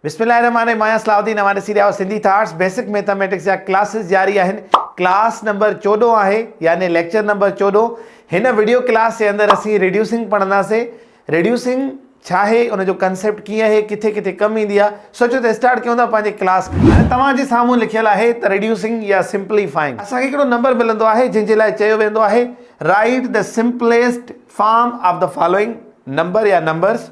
بسم الله الرحمٰن الرحيم آهيان صلاح الدين اوهان ڏسي رهيا آهيو سنڌي ٿاٽس بيسڪ ميٿاميٽڪس جا ڪلاسز جاري آهن ڪلاس نمبر چوڏهن آهي يعني ليڪچر نمبر چوڏهن هن وڊيو ڪلاس جي اندر اسين ريڊيوسنگ پڙهنداسين ريڊيوسنگ ڇا آهي ان جو ڪنسيپٽ ڪيئن آهي ڪٿي ڪٿي ڪم ايندي آهي سوچو ته اسٽارٽ ڪيون ٿا پنهنجي ڪلاس کي هاڻي توهان جي سامهون لکيل آهي ته ريڊيوسنگ يا سمپليفائنگ اسان کي هڪڙو نمبر ملندو آهي جنهن جي لاء چيو ويندو آهي write the simplest form of the following number يا نمبرز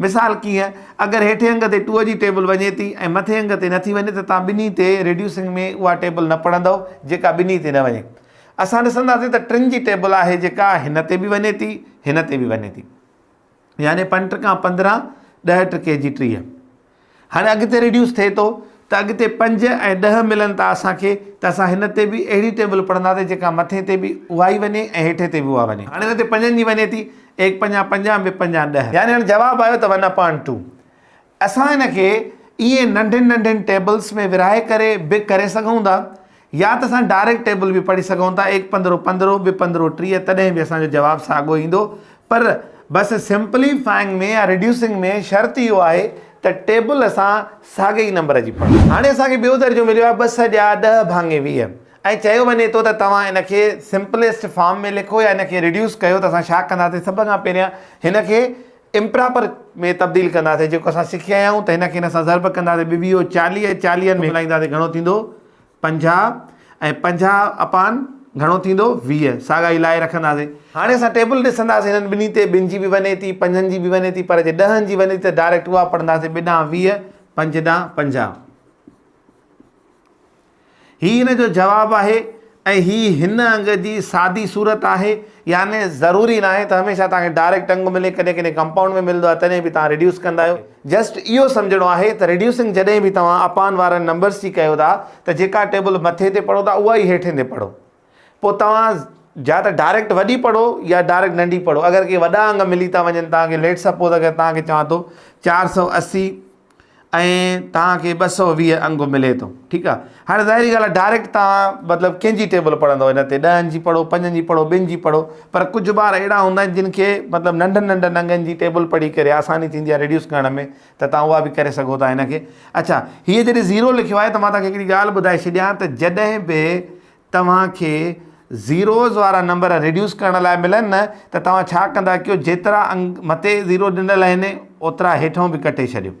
مثال ڪيئن، اگر هيٺين انگ تي ٽوء جي ٽيبل وڃي ٿي ۽ مٿين انگ تي نٿي وڃي ته توهان ٻنهي تي ريڊيوسنگ ۾ اها ٽيبل نه پڙهندؤ جيڪا ٻنهي تي نه وڃي. اسان ڏسنداسين ته ٽن جي ٽيبل آهي جيڪا هن تي به وڃي ٿي هن تي به وڃي ٿي يعني پنٽ کان پندرهن ڏهه ٽڪي جي ٽيهه. هاڻي اڳتي ريڊيوس ٿئي ٿو ته اڳتي پنج ۽ ڏهه ملن ٿا اسان کي ته اسان هن تي به اهڙي ٽيبل پڙهنداسين جيڪا مٿين تي به اها ئي وڃي ۽ هيٺين تي به اها وڃي. هاڻي هن تي پنجن جي وڃي ٿي ايڪ پنجان پنجان ٻه پنجان ڏهه. يعني هاڻي جواب آيو ته ون اپان ٽو. اسان هن کي ائين ننڍين ننڍين ٽيبلس ۾ ورهائي ڪري به ڪري سگهون ٿا يا ته اسان ڊائريڪٽ ٽيبل به پڙهي سگهون ٿا ايڪ پندرهون پندرهون ٻه پندرهون ٽيهه تڏهن به اسان جو جواب ساڳو ايندو پر بس سمپلي فائنگ ۾ يا ريڊيوسنگ ۾ شرط اهو آهي ته ٽيبل اسان ساڳي ئي نمبر جي پڙهون. هاڻي اسان کي ٻيو درجو مليو آهي ٻه سڄا ڏهه ڀاڱي ويهه ۽ چيو وڃي ٿو ته توهان ان کي سمپليسٽ فارم ۾ لکو يا ان کي ريڊيوس ڪيو ته اسان ڇا ڪنداسين سڀ کان پهريان هن کي امپراپر ۾ تبديل ڪنداسين جيڪو اسان سکي آيا آهيون ته هن کي هن سان ضرب ڪنداسين ٻه ويهه چاليهه چاليهن ۾ ملائينداسين گهڻو ٿيندو پنجاهه ۽ پنجاهه اپان گهڻو ٿيندو ويهه ساڳا ئي لائي رکنداسين. هاڻي اسان ٽيبل ڏسنداسين هنن ٻنهي تي ٻن جي به وڃي ٿي پنجن جي به وڃي ٿي پر جي ڏهن جي وڃي ٿي ته ڊائريڪٽ اها پڙهنداسين ٻه ڏانهن ويهه پنج ڏانهن پنجاهه هي هن جو جواب آهي ۽ هي هن انگ جي سادي صورت آهي يعني ضروري ناهي ته هميشه توهان کي ڊائريڪٽ انگ ملي ڪڏهن ڪڏهن ڪمپائونڊ ۾ ملندو آهي تڏهن به توهان ريڊيوس ڪندا آهيو. جسٽ اهو سمجهڻو آهي ته ريڊيوسنگ جڏهن به توهان اپان وارن نمبرس جي ڪيو ٿا ته جيڪا ٽيبل مٿي تي پڙهو ٿا اها ئي هيٺين تي پڙهو پوء توهان جا ته ڊائريڪٽ وڏي پڙهو يا ڊائريڪٽ ننڍي پڙهو اگر ڪي وڏا انگ ملي ٿا وڃن توهان کي ليٽس سپوز اگر توهان کي چوان ٿو چار سؤ اسي ۽ توهان کي ٻه سؤ ويهه انگ ملي ٿو ٺيڪ آهي هاڻي ظاهري ڳالهه آهي ڊائريڪٽ تان مطلب ڪنهن جي ٽيبل پڙهندو هن تي ڏهن جي پڙهو پنجن جي پڙهو ٻن جي پڙهو پر ڪجهه ٻار اهڙا هوندا آهن جن کي مطلب ننڍن ننڍن انگن جي ٽيبل پڙهي ڪري آساني ٿيندي آهي ريڊيوس ڪرڻ ۾ ته تان اها به ڪري سگهو ٿا هن کي اڇا هيء جڏهن زيرو لکيو آهي ته مان توهانکي هڪڙي ڳالهه ٻڌائي ڇڏيان ته جڏهن به توهانکي زيروز وارا نمبر ريڊيوس ڪرڻ لاء ملن نه ته توهان ڇا ڪندا ڪيو جيترا انگ مٿي زيرو ڏنل آهن اوترا هيٺئون به ڪٽي ڇڏيو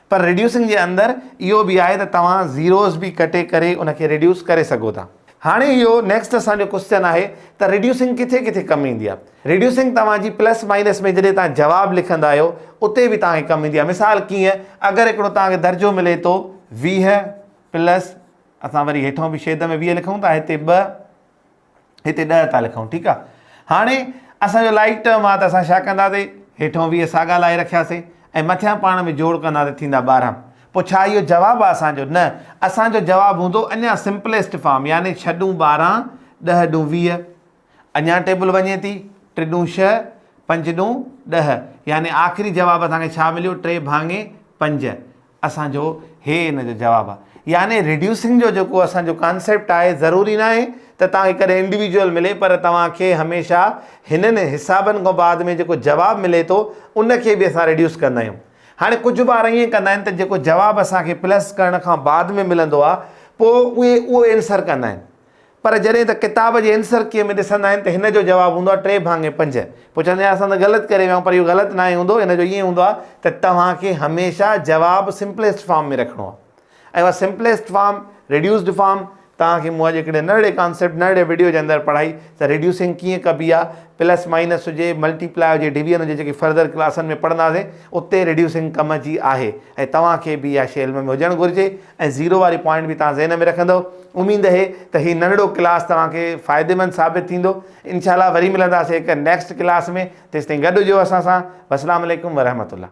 پر ريڊيوسنگ جي اندر اهو به آهي ته توهان زيروز به ڪٽي ڪري ان کي ريڊيوس ڪري سگهو ٿا. هاڻي اهو نيڪسٽ اسان جو ڪوسچن آهي ته ريڊيوسنگ ڪٿي ڪٿي ڪم ايندي آهي. ريڊيوسنگ توهان جي پلس مائنس ۾ جڏهن توهان جواب لکندا آهيو اتي به توهان کي ڪم ايندي آهي مثال ڪيئن اگر هڪڙو توهان کي درجو ملي ٿو ويهه پلس اسان وري هيٺون به شيد ۾ ويهه لکون ٿا هتي ٻه هتي ڏهه ٿا لکون ٺيڪ آ هاڻي اسان جو لائيڪ ٽرم آ ته اسان ڇا ڪنداسي هيٺون ويهه ساڳا لائي رکياسي ۽ مٿيان پاڻ ۾ جوڙ ڪندا ته ٿيندا ٻارهن پو ڇا اهو جواب آ اسان جو نه اسان جو جواب هوندو اڃا سمپليسٽ فارم يعني ڇهه ڏون ٻارهن ڏهه ڏون ويهه اڃا ٽيبل وڃي ٿي ٽي ڏون ڇهه پنج ڏون ڏهه يعني آخري جواب اسان کي ڇا مليو ٽي ڀاڱي پنج اسان جو هي ان جو جواب آ. يعني ريڊيوسنگ جو جيڪو اسان جو ڪانسيپٽ آهي ضروري ناهي ته توهان کي ڪڏهن انڊيويڊيول ملي پر توهان کي هميشه هنن حسابن کان بعد ۾ جيڪو جواب ملي ٿو ان کي به اسان ريڊيوس ڪندا آهيون. هاڻي ڪجهه ٻار ائين ڪندا آهن ته جيڪو جواب اسان کي پلس ڪرڻ کان بعد ۾ ملندو آ پوء اهي اهو ائنسر ڪندا آهن. پر جڏهن ته ڪتاب جي عنصر ڪيء ۾ ڏسندا آهن ته هن جو جواب هوندو آهي ٽي ڀاڱي پنج. پوء چوندي آهيان اسان ته غلط ڪري ويا آهيون پر اهو غلط ناهي هوندو ان جو ائين هوندو آهي ته توهان کي هميشه جواب سمپليسٽ فارم ۾ رکڻو آهي ۽ اها سمپليسٽ فارم، ريڊيوسڊ فارم، توهان کي مون اڄ هڪڙي ننڍڙي ڪانسيپٽ ننڍڙي وڊيو جي اندر پڙهائي ته ريڊيوسنگ ڪيئن ڪبي آهي، پلس مائنس هجي، ملٽي پلاء هجي، ڊويزن هجي جيڪي فردر ڪلاسن ۾ پڙهنداسين اتي ريڊيوسنگ ڪم جي آهي ۽ توهان کي به اها شيء علم ۾ هجڻ گهرجي ۽ زيرو واري پوائنٽ به توهان ذهن ۾ رکندؤ. اميد اهي ته هي ننڍڙو ڪلاس توهان کي فائديمند ثابت ٿيندو. انشاء الله وري ملنداسين هڪ نيڪسٽ ڪلاس ۾ تيستائين گڏ هجو اسان سان. والسلام عليڪم ورحمة الله.